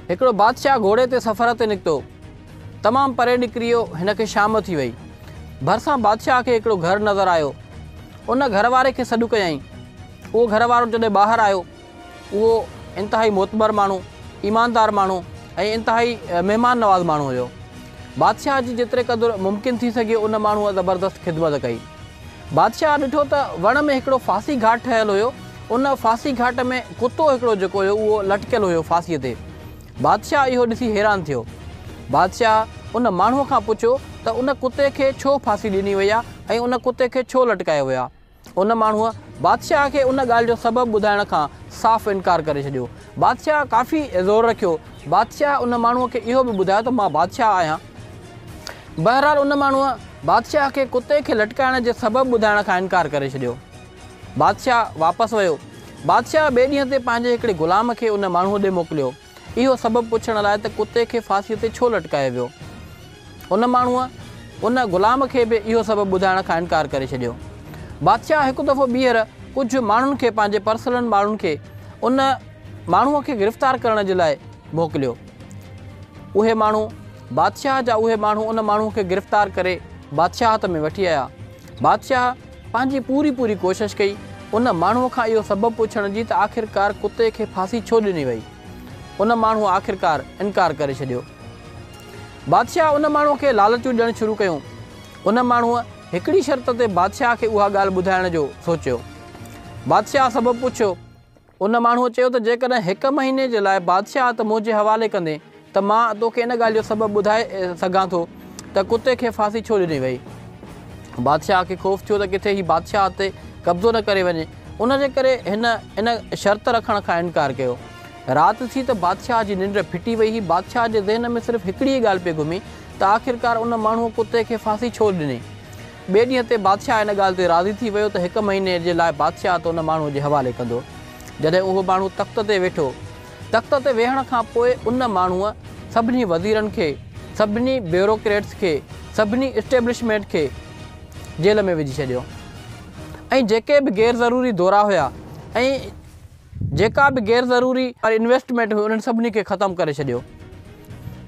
هڪڙو بادشاهه گهوڙي تي سفر تي نڪتو. تمام پري نڪري ويو. هن کي شام ٿي وئي. ڀرسان بادشاهه کي هڪڙو گهر نظر آيو. ان گهر واري کي سڏ ڪيائين. اهو گهر وارو جڏهن ٻاهر آيو. اهو انتهائي معتبر ماڻهو، ايماندار ماڻهو ۽ انتهائي مهمان نواز ماڻهو هيو. بادشاهه جي جيتري قدر ممڪن ٿي سگهيو ان ماڻهوء زبردست خدمت ڪئي. بادشاهه ڏٺو ته وڻ ۾ هڪڙو ڦاسي گهاٽ ٺهيل هيو. ان ڦاسي گهاٽ ۾ ڪتو هڪڙو جيڪو هيو اهو لٽڪيل هيو ڦاسيء تي. بادشاهه اهو ڏسي حيران ٿيو. بادشاهه ان ماڻهوء کان پڇيو ته ان ڪتي کي ڇو ڦاسي ڏني وئي آ ۽ ان ڪتي کي ڇو لٽڪايو ويو آ؟ ان ماڻهوء بادشاهه کي ان ڳالهه جو سبب ٻڌائڻ کان صاف انڪار ڪري ڇڏيو. بادشاهه ڪافي زور رکيو. بادشاهه ان ماڻهوء کي اهو به ٻڌايو ته مان بادشاهه آهيان. بهرحال ان ماڻهوء بادشاهه کي ڪتي کي لٽڪائڻ جي سبب ٻڌائڻ کان انڪار ڪري ڇڏيو. بادشاهه واپس ويو. بادشاهه ٻئي ڏينهن تي پنهنجي هڪڙي غلام کي ان ماڻهوء ڏي موڪليو، اهو سبب پڇڻ لاء ته ڪتي کي ڦاسيء تي ڇو لٽڪايو ويو. ان ماڻهوء ان غلام کي به اهو سبب ٻڌائڻ کان انڪار ڪري ڇڏيو. بادشاهه هڪ دفعو ٻيهر ڪجهه ماڻهن کي پنهنجي پرسنل ماڻهن کي ان ماڻهوء کي گرفتار ڪرڻ جي لاء موڪليو. اهي ماڻهو بادشاهه جا اهي ماڻهو ان ماڻهوء کي گرفتار ڪري بادشاهت ۾ وٺي آيا. بادشاهه پنهنجي پوري پوري ڪوشش ڪئي ان ماڻهوء کان اهو سبب پڇڻ جي ته آخرڪار ڪتي کي ڦاسي ڇو ڏني وئي؟ ان ماڻهوء آخرڪار انڪار ڪري ڇڏيو. بادشاهه ان ماڻهوء کي لالچون ڏيڻ شروع ڪيون. ان ماڻهوء هڪڙي شرط تي بادشاهه کي اها ڳالهه ٻڌائڻ جو سوچيو. بادشاهه سبب پڇيو. ان ماڻهوء چيو ته جيڪڏهن هڪ مهيني جي لاء بادشاهت منهنجي حوالي ڪندين ته مان توکي ان ڳالهه جو سبب ٻڌائي سگهان ٿو ته ڪتي کي ڦاسي ڇو ڏني وئي. بادشاهه کي خوف ٿيو ته ڪٿي هي بادشاهت تي قبضو نه ڪري وڃي. ان جي ڪري هن ان شرط رکڻ کان انڪار ڪيو. رات ٿي ته بادشاهه جي ننڊ ڦٽي وئي هئي. بادشاهه جي ذهن ۾ صرف هڪڙي ئي ڳالهه پئي گهمي ته آخرڪار ان ماڻهوء ڪتي کي ڦاسي ڇو ڏني. ٻئي ڏينهن تي بادشاهه ان ڳالهه تي راضي ٿي ويو ته هڪ مهيني جي لاء بادشاهت ان ماڻهوء جي حوالي ڪندو. جڏهن اهو ماڻهو تخت تي ويٺو. تخت تي ويهڻ کان پوء ان ماڻهوء سڀني وزيرن کي، سڀني بيوروڪريٽس کي، سڀني اسٽيبلشمينٽ کي جيل ۾ وجهي ڇڏيو ۽ جيڪي به غير ضروري دورا هيا ۽ جيڪا به غير ضروري انويسٽمينٽ هئي انهن سڀني کي ختم ڪري ڇڏيو.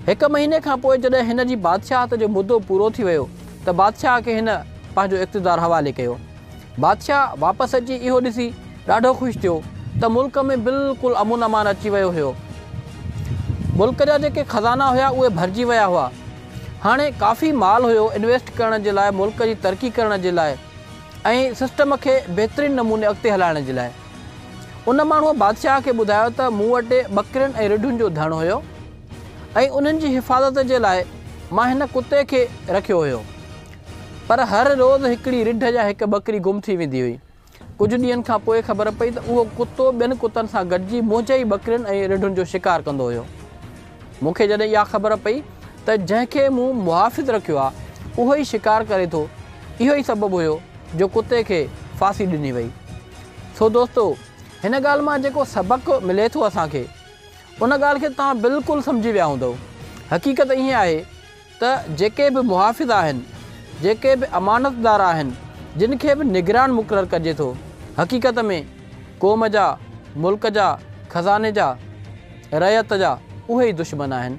هڪ مهيني کان پوء جڏهن هن جي بادشاهت جو مدو پورو ٿي ويو ته بادشاهه کي هن پنهنجو اقتدار حوالي ڪيو. بادشاهه واپس اچي اهو ڏسي ڏاڍو خوش ٿيو ته ملڪ ۾ بلڪل امن امان اچي ويو هيو. ملڪ جا جيڪي خزانا هيا اهي ڀرجي ويا هئا. هاڻي ڪافي مال هيو انويسٽ ڪرڻ جي لاء ملڪ جي ترقي ڪرڻ جي لاء ۽ سسٽم کي بهترين نموني اڳتي هلائڻ جي لاء. ان ماڻهوء بادشاهه کي ٻڌايو ته مون وٽ ٻڪرين ۽ رڍن جو ڌڻ هيو ۽ انهن جي حفاظت جي لاء مان هن ڪتي کي رکيو هيو. پر هر روز هڪڙي رڍ يا هڪ ٻڪري گم ٿي ويندي هئي. ڪجهه ڏينهن کان پوء خبر پئي ته اهو ڪتو ٻين ڪتن سان گڏجي منهنجي ئي ٻڪرين ۽ رڍن جو شڪار ڪندو هيو. مون کي جڏهن اها خبر پئي ته جنهن کي مون محافظ رکيو آهي اهو ئي شڪار ڪري ٿو، اهو ئي سبب هيو جو ڪتي کي ڦاسي ڏني وئي. سو دوستو هن ڳالهه مان جيڪو سبق ملي ٿو اسان کي ان ڳالهه کي توهان بلڪل سمجهي ويا هوندؤ حقيقت ائين آهي ته جيڪي به محافظ آهن جيڪي به امانتدار آهن جن کي به نگران مقرر ڪجي ٿو حقيقت ۾ قوم جا ملڪ جا خزاني جا رعيت جا اهي ئي دشمن آهن